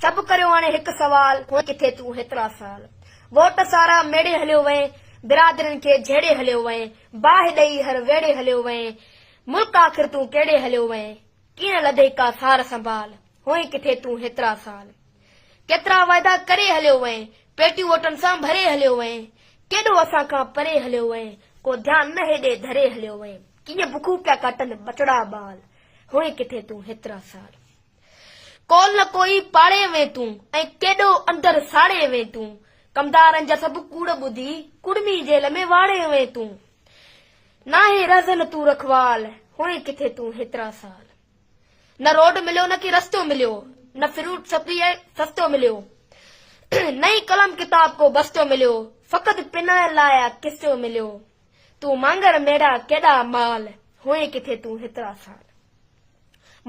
سڀ ڪريو هاڻي هڪ سوال، هونئن ڪٿي تون هيترا سال. ووٽ سارا ميڙي هليو وئين، برادرين کي جهيڙي هليو وئين، باهه ڏئي هر ويڙي هليو وئين، ملڪ آخر تون ڪهڙي هليو وئين، ڪين لڌئي ڪا سار سنڀال، هونئن ڪٿي تون هيترا سال. ڪيترا وعدا ڪري هليو وئين، پيٽيون ووٽن سان ڀري هليو وئين، ڪيڏو اسان کان پري هليو وئين، ڪو ڌيان نه هيڏي ڌري هليو وئين، ڪيئن بکون پيا ڪاٽن ٻٽڙا ٻال، هونئن ڪٿي تون هيترا سال. ڪول نه ڪوئي پاڙي وين تون، ۽ ڪيڏو اندر ساڙي وين تون، ڪمدارن جا سڀ ڪوڙ ٻڌي، ڪڙمي جيل ۾ واڙي وين تون. ناهي رهزن تون رکوال، هئين ڪٿي تون هيترا سال. نه روڊ مليو نه ڪي رستو مليو، نه فروٽ سپلي ۽ سستو مليو، نه ئي قلم ڪتاب ڪو بستو مليو، فقط پنائڻ لاء آ قصو مليو. تون مانگر ميڙا ڪيڏا مال، هئين ڪٿي تون هيترا سال.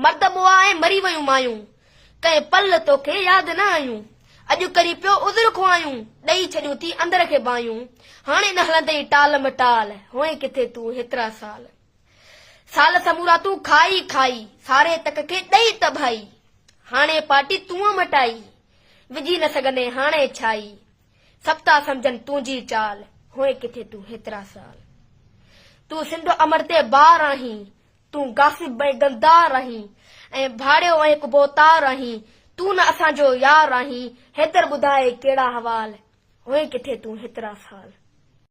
مرد مئا ۽ مري ويون مايون، ڪنهن پل توکي ياد نه آيون، اڄ ڪري پيو عذر خواهيون، ڏئي ڇڏيون ٿي اندر کي باهيون، هاڻي نه هلندئي ٽال مٽال، هئين ڪٿي تون هيترا سال. سال سمورا تون کائي کائي، ساري تڪ کي ڏئي تباهي، هاڻي پاٽي تون مٽائي، وجهي نه سگهندين هاڻي ڇائي، سڀ ٿا سمجهن تنهنجي چال، هئين ڪٿي تون هيترا سال. تون سنڌ امڙ تي بار آهين، تون غاصب ۽ غلدار آهين ۽ ڀاڙيو ۽ هڪ ڀوتار آهين، تون نه اسان جو يار آهين، حيدر ٻڌاء ڪهڙا حوال، هئين ڪٿي تون هيترا سال.